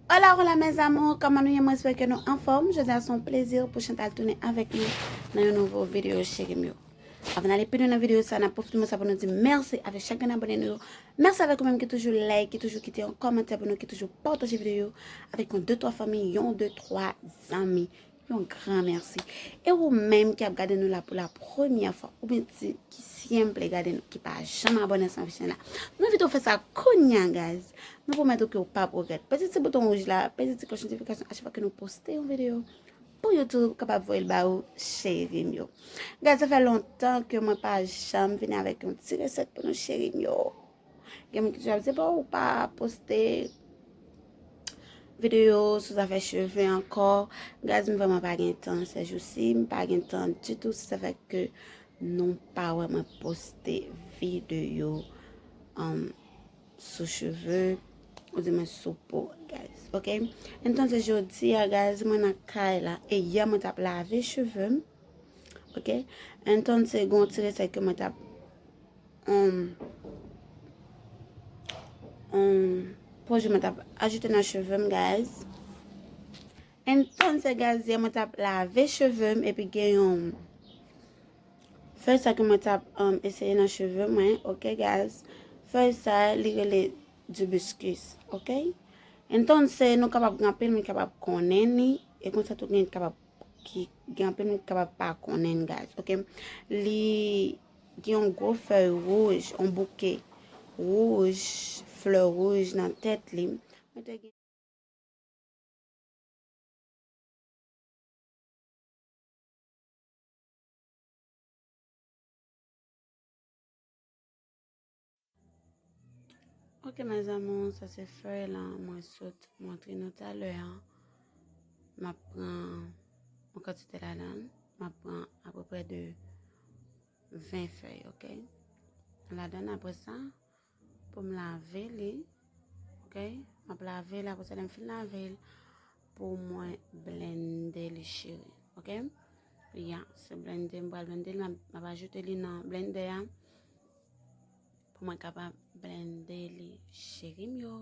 Hola hola mes amours, kama nou ye mwen espere ke nou anfòm. Jodi a son plezir pou Chantal tounen avèk nou nan yon nouvo video chéri m yo. Avan nale pi lwen nan videyo sa, nap pwofite moman sa pou nou di mèsi avèk chak grenn abone nou yo. Mèsi avèk ou menm ki toujou like, ki toujou kite yon kòmantè pou nou, ki toujou pataje videyo yo avèk yon de twa fanmi, yon de twa zanmi. Yon gran mèsi. E ou menm ki ap gade nou la pou la premyè fwa, oubyen ti ki syenple gade nou, ki pa janm abone ansanm avèk chèn la, nou envite ou fè sa kounya guys. Nou pwomèt ou ke ou pap regrèt. Pèse ti bouton wouj la, pèse ti klòch notifikasyon a chak fwa ke nou poste yon videyo. Pou yo tou kapab voyel ba ou cherim yo. Gad sa fè lontan ke mwen pa janm vini avèk yon ti resèt pou nou cherim yo. Gen moun ki toujou ap di bon ou pa poste video sou zafè cheve ankò. Gad m vreman pa gen tan se jou si m pa gen tan di tou se sa fè ke nou pa wè mwen poste video. Sou cheve, ou di men sou po, guys. Ok? En tan se jodi ya, guys, mwen nan kay la. E yè mwen tap lave cheve m. Ok? En tan se gon tire se ke mwen tap... Ehm... Ehm... Po je mwen tap ajoute nan cheve m, guys. En tan se, guys, yè mwen tap lave cheve m. E pi gen yon... Fèy sa ke mwen tap eseye nan cheve mwen ok guys Fèy sa li rele d'hibiscus ok Entonse nou kapab gen anpil moun ki kapab konnen li e konsa tou gen kapab ki gen anpil moun ki kapab pa konnen li guys ok Li gen yon gwo fèy wouj yon bouke wouj flè wouj nan tèt li Mwen te gen Ok mes amours, sa se fèy la mwen sot montre nou talè an. M ap pran yon kantite ladan, m ap pran apeprè de 20 fèy, ok? Ladan apre sa, Pou m lave li. Ok. M ap lave l apre sa lè m fin lave l pou mwen blende li cheri. Ok. Ya, se blende m pral blende l. M ap ajoute li nan blende a. Pou mwen kapab blende li cheri m yo.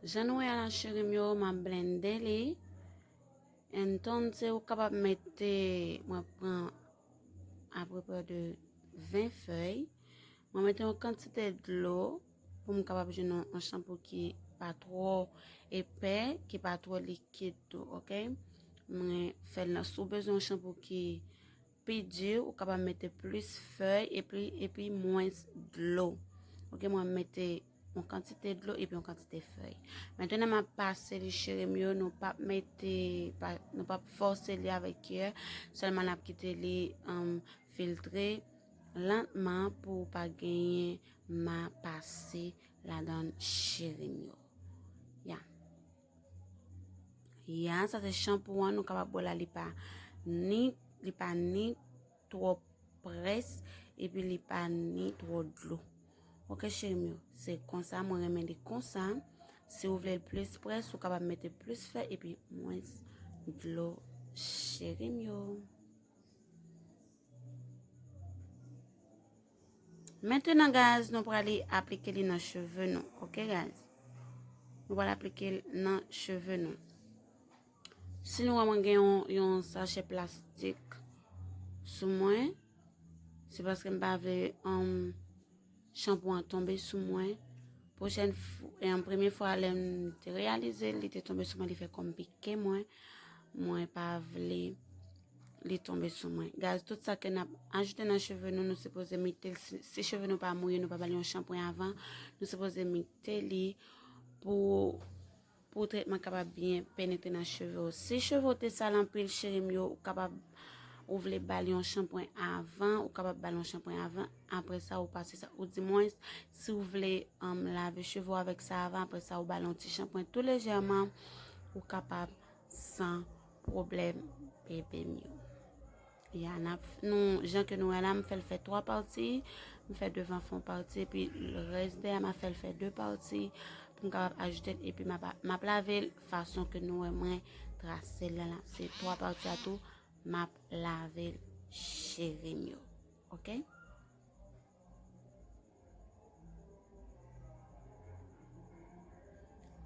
Jan nou wè la cherim yo, m ap blende li. En ton se ou kapab mette, mwen pran aprepe de 20 fèy. Mwen mette yon kantite dlo. Mwen pou m kapab jwenn yon chanpou ki pa twò epè, ki pa twò likid tou, ok? Mwen fè l nan sou bezwen yon chanpou ki pi di, ou kapab mete plis fèy epi epi mwens dlo. Ok, mwen mete yon kantite dlo epi yon kantite fèy. Mètènè m ap pase li cheri m yo, nou pap mete, nou pap fòse li avèk kyè, sèlman n ap kite li filtre lantman pou pa genyen. Ma pase ladan cheri m yo. Ya. Ya, sa se shampoo an. Nou kapab wè la li pa ni, li pa ni twò près epi li pa ni twò dlo. Ok cheri m yo. Se konsa mwen renmen li konsa. Si ou vle l plis près, ou kapab mete plis fè epi mwens dlo cheri m yo. Maintenant guys, nou prale aplike li nan cheve nou. Ok guys. Nou prale aplike li nan cheve nou. Si nou wè mwen gen yon sachet plastik sou mwen, se paske m pa vle yon chanpou an tombe sou mwen. Pochèn fou, e an premye fwa lè m te reyalize li te tombe sou mwen li fè kòm pike mwen. Mwen pa vle. li tonbe sou mwen. Gaz, tout sa ke nap ajoute nan cheve nou, nou sepoze mite, si cheve nou pa mouye, nou pa bali yon shampoo avan, nou sepoze mite li pou pou tretman kapab byen penetre nan cheve ou. Si cheve ou te sal anpil, cherim yo, ou kapab ou vle bali yon shampoo avan, ou kapab bali yon shampoo avan, apre sa ou pase sa, ou di mwen, si ou vle um, lave cheve ou avèk sa avan, apre sa ou bali yon ti shampoo tou lejèman, ou kapab san Pwoblèm bebe m yo. Ya nap nou jan ke nou wè la m fèl fè 3 pati, m fè devan fon pati epi rès dèyè ma fèl fè 2 pati pou m kapab ajoute epi ma map lave l fason ke nou wè mwen trase l la. Se 3 pati a tou map lave l cheri m yo. Ok.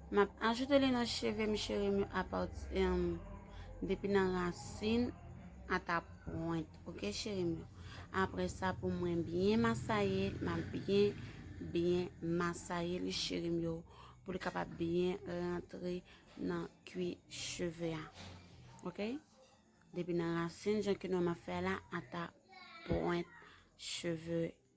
Map ajoute li nan cheve m cheri m apati um, depi nan rasin ata pwent. Ok cheri m. Apre sa pou mwen byen masaye, map byen byen masaye li cheri m yo pou li kapab byen rantre nan kwi cheve a. Ok? Depi nan rasin jan ki nou ma fè la ata pwent cheve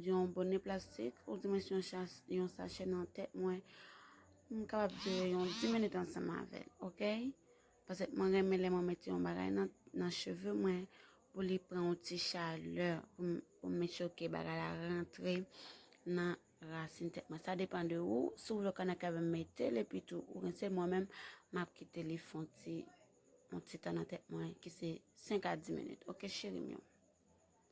Yon bone plastik ou dimensyon yon sachè nan tèt mwen, m kapab dire yon 10 minit ansanm avèl, ok? Paske mwen renmen lè mwen mette yon bagay nan cheve mwen pou li pran yon ti chalè, pou m met sho ke bagay la rantre nan rasin tèt mwen. Sa depan de ou, si w vle w ka nan kave mette l epi tou ou rense l, mwen menm m ap kite li fon ti, yon ti tan nan tèt mwen ki se 5 a 10 minit, ok cheri m yo?